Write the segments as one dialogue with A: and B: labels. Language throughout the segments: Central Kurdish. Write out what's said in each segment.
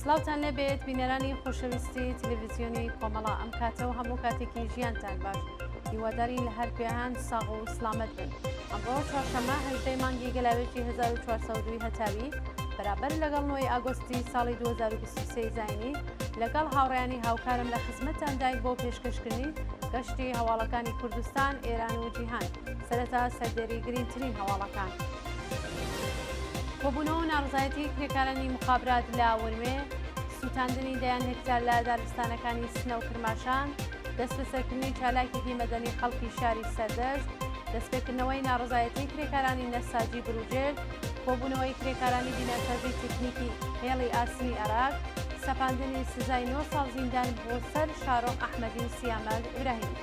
A: سڵاوتان لێبێت بینەرانی خۆشەویستی تلویزیۆنی کۆمەڵا ئەم کاتە و هەموو کاتێکی ژیانتان باش هیواداری لە هەر پێهان ساغ و سلامەت بن ئەمڕۆ چوارشەمە هەژدەی مانگی گەلاوێژی 1940 هەتاوی بەرابەر لەگەڵ نۆی ئاگۆستی ساڵی 2023 زینی لەگەڵ هاوڕیانی هاوکارم لە خزمەتان داین بۆ پێشکەشکردنی گەشتی هەواڵەکانی کوردستان ئێران و جیهان سەرەتا سەردێری گرینگترین هەواڵەکان. کۆبوونەوە و ناڕەزایەتی کرێکارانی موخابرات لە ورمێ، سووتاندنی دەیان هێکتار لە دارستانەکانی سنە و کرماشان، دەستبەسەرکردنی چالاکێکی مەدەنی خەڵکی شاری سەردەشت، دەستپێکردنەوەی ناڕەزایەتی کرێکارانی نەساجی بروجێرد، کۆبوونەوەی کرێکارانی بیناسازی تەکنیکی هێڵی ئاسنی ئەراک، سەپاندنی سزای نۆ ساڵ زیندان بۆ سەر شارۆخ ئەحمەدی و سیامەک ئیبراهیمی.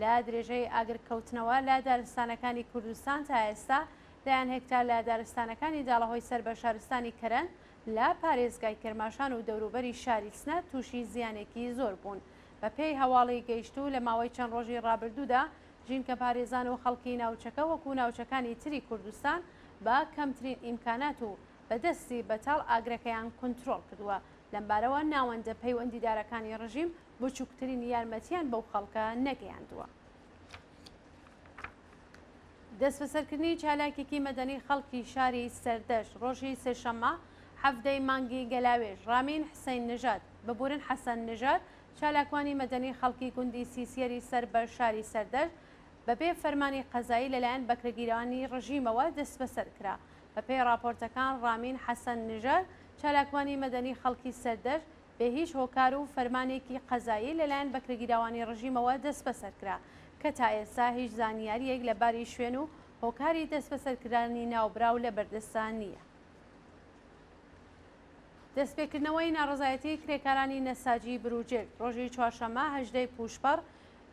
A: لە درێژەی ئاگرکەوتنەوە لە دارستانەکانی کوردستان تا ئێستا دەیان هێکتار لە دارستانەکانی داڵەهۆی سەر بە شارستانی کەرەن لە پارێزگای کرماشان و دەوروبەری شاری سنە تووشی زیانێکی زۆر بوون. بە پێی هەواڵی گەیشتوو لە ماوەی چەند ڕۆژی ڕابردوودا ژینکەپارێزان و خەڵکی ناوچەکە وەکوو ناوچەکانی تری کوردستان بە کەمترین ئیمکانات و بە دەستی بەتاڵ ئاگرەکەیان کونترۆڵ کردووە. لەمبارەوە ناوەندە پەیوەندیدارەکانی ڕژیم بچوکترین یارمەتیان بەو خەڵکە نەگەیاندووە. دەستبەسەرکردنی چالاکێکی مەدەنی خەڵکی شاری سەردەشت ڕۆژی سێشەممە حەڤدەی مانگی گەلاوێژ ڕامین حسەین نژاد، ببورن حەسەن نژاد، چالاکوانی مەدەنی خەڵکی گوندی سیسیەری سەر بە شاری سەردەشت بەبێ فەرمانی قەزایی لەلایەن بەکرەگیرانی ڕژیمەوە دەستبەسەر کرا. بەپێی ڕاپۆرتەکان ڕامین حەسەن نژاد، چالاکوانی مەدەنی خەڵکی سەردەشت، بێ هیچ هۆکار و فەرمانێکی قەزایی لەلایەن بەکرێگیراوانی ڕژیمەوە دەستبەسەر کرا کە تا ئێستا هیچ زانیارییەک لە باری شوێن و هۆکاری دەستبەسەرکرانی ناوبراو لە بەردەستدا نییە. دەستپێکردنەوەی ناڕەزایەتیی کرێکارانی نەساجی بروجێرد ڕۆژی چوارشەممە هەژدە ی پووشپەڕ،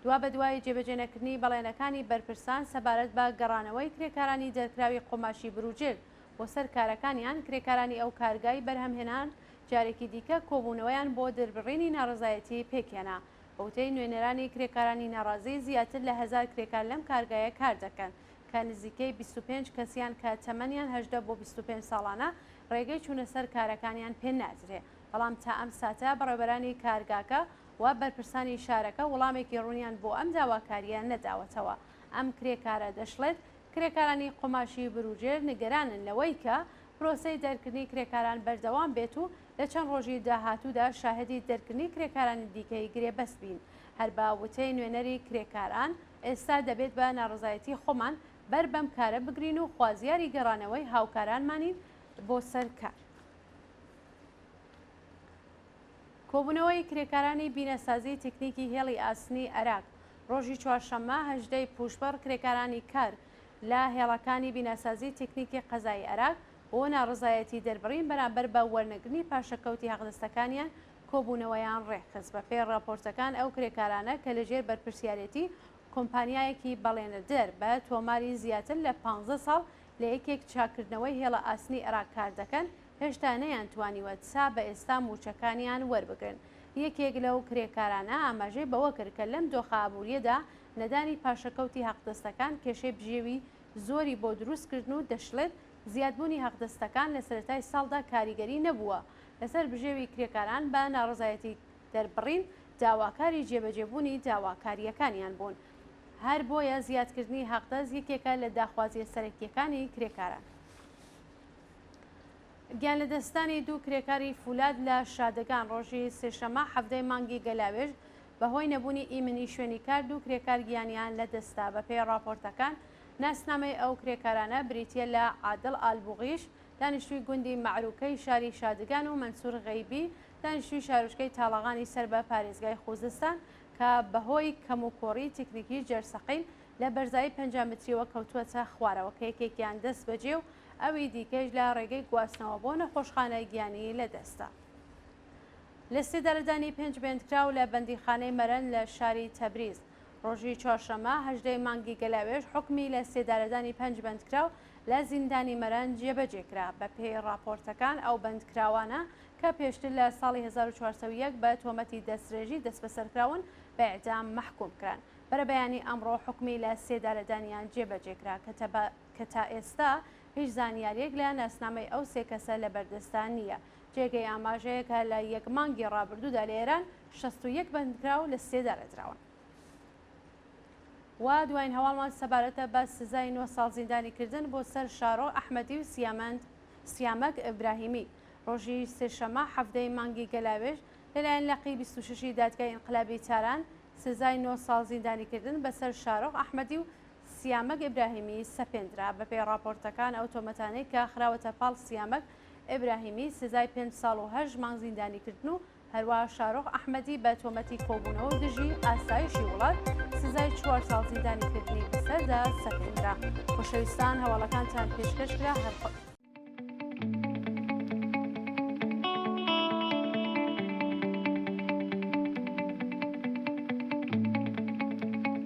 A: دوابەدوای جێبەجێنەکردنی بەڵێنەکانی بەرپرسان سەبارەت بە گەڕانەوەی کرێکارانی دەرکراوی قوماشی بروجێرد بۆ سەر کارەکانیان، کرێکارانی ئەو کارگای بەرهەمهێنان جارێکی دیکە کۆبوونەوەیان بۆ دربڕینی ناڕەزایەتی پێکهێنا. بە وتەی نوێنەرانی کرێکارانی ناڕازی، زیاتر لە هەزار کرێکار لەم کارگایە کار دەکەن، کە نزیکەی بیست و پێنج کەسیان کە تەمەنیان هەژدە بۆ بیست و پێنج ساڵانە، ڕێگەی چوونە سەر کارەکانیان پێ نادرێ، بەڵام تا ئەم ساتە بەڕێوەبەرانی کارگاکە و بەرپرسانی شارەکە وڵامێکی ڕوونیان بۆ ئەم داواکارییە نەداوەتەوە. ئەم کرێکارە دەشڵێت، کرێکارانی قوماشی بروجێر نیگەرانن لەوەی کە پرۆسەی دەرکردنی کرێکاران بەردەوام بێت و لە چەند ڕۆژی داهاتوودا شاهدی دەرکردنی کرێکارانی دیکەی گرێبەست بین. هەر بە وتەی نوێنەری کرێکاران، ئێستا دەبێت بە ناڕەزایەتی خۆمان بەر بەم کارە بگرین و خوازیاری گەڕانەوەی هاوکارانمانین بۆ سەر کار. کۆبوونەوەی کرێکارانی بینەسازی تکنیکی هێڵی ئاسنی عێراق، ڕۆژی چوارشەممە هەژدە ی پووشبڕ کرێکارانی کار، لە هێڵەکانی بیناسازی تیکنیکی قەزای ئەراک بۆ ناڕەزایەتی دەربڕین بەرامبەر بە وەرنەگرنی پاشەکەوتی هەقدەستەکانیان کۆبوونەوەیان ڕێکخست بەپێی ڕاپۆرتەکان ئەو کرێکارانە کە لەژێر بەرپرسیارێتی کۆمپانیایەکی بەڵێنەدەر بە تۆماری زیاتر لە پانزە ساڵ لە یەکێک چاککردنەوەی هێڵە ئاسنی ئەراک کاردەکەن هێشتا نەیانتوانیوە تا بە ئێستا مووچەکانیان وەربگرن یەکێک لەو کرێکارانە ئاماژەی بەوەکرد کە لەم دۆخە ئابووریەدا نەدانی پاشەکەوتی هەقدەستەکان کێشەی بژێوی زۆری بۆ دروست کردن و دەشڵێت، زیادبوونی هەقدەستەکان لە سەرەتای ساڵدا کاریگەری نەبووە لەسەر بژێوی کرێکاران بە ناڕەزایەتی دەربڕین داواکاری جێبەجێبوونی داواکارییەکانیان بوون هەر بۆیە زیادکردنی هەقدەست یەکێکە لە داخوازییە سەرەکییەکانی کرێکاران. گیانلەدەستدانی دوو کرێکاری فولاد لە شادەگان ڕۆژی سێشەممە حەڤدە ی مانگی گەلاوێژ بەهۆی نەبوونی ئیمنی شوێنی کار دوو کرێکار گیانیان لەدەستدا، بەپێی ڕاپۆرتەکان ناسنامەی ئەو کرێکارانە بریتییە لە عادڵ ئالبوغیش دانیشتووی گوندی مەعروکەی شاری شادگان و مەنسور غەیبی دانیشتووی شارۆچکەی تاڵەغانی سەر بە پارێزگای خوزستان کە بەهۆی کەموکوڕی تیکنیکی جەرسەقیل لە بەرزایی پەنجا مترییەوە کەوتووەتە خوارەوە کە یەکێکیان دەستبەجێ و ئەوی دیکەیش لە ڕێگەی گواستنەوە بۆ نەخۆشخانە گیانی لەدەستدا. لیستی دەردانی پێنج بەندکراو لە بەندیخانەی مەرەن لە شاری تەبریز ڕۆژی چوارشەممە هەژدەی مانگی گەلاوێژ حکمی لە سێدارەدانی پەنج بەندکراو لە زیندانی مەرەن جێبەجێ کرا بەپێی ڕاپۆرتەکان ئەو بەندکراوانە کە پێشتر لە ساڵی 1401 بە تۆمەتی دەسترێژی دەستبەسەرکراون بە ئیعدام مەحکوم کران بەرەبەیانی ئەمڕۆ حکمی لە سێدارەدانیان جێبەجێ کرا کە کە تا ئێستا هیچ زانیاریەک لە ناسنامەی ئەو سێ کەسە لە بەردەستدا نییە جێگەی ئاماژەیە کە لە یەک مانگی ڕابردوودا لە ئێران شەست و یەک بەندکراو لە سێ دارێدراون. و دوایین هەواڵمان سەبارەتە بە سزای نۆ ساڵ زیندانی کردن بۆ سەر شارۆ ئەحمەدی و سیامەند سیامەک ئیبراهیمی ڕۆژی سێشەمە حەفتەی مانگی گەلاوێژ لەلایەن لەقی 26 ی دادگای ئینقلابی تاران سزای نۆ ساڵ زیندانی کردن بەسەر شارۆخ ئەحمەدی و سیامەک ئیبراهیمی سەپێندرا بەپێی ڕاپۆرتەکان ئەو تۆمەتانەی کە خراوەتە پاڵ سیامەک ئیبراهیمی سزای پێنج ساڵ و هەشت مانگ زیندانیکردن و هەروەها شارۆخ ئەحمەدی بە تۆمەتی کۆبوونەوە دژی ئاسایشی وڵات سزای چوار ساڵ زیندانیکردنی بەسەردا سەپێنرا. خۆشەویستان هەواڵەکانتان پێشکەش کرا هەر خۆ.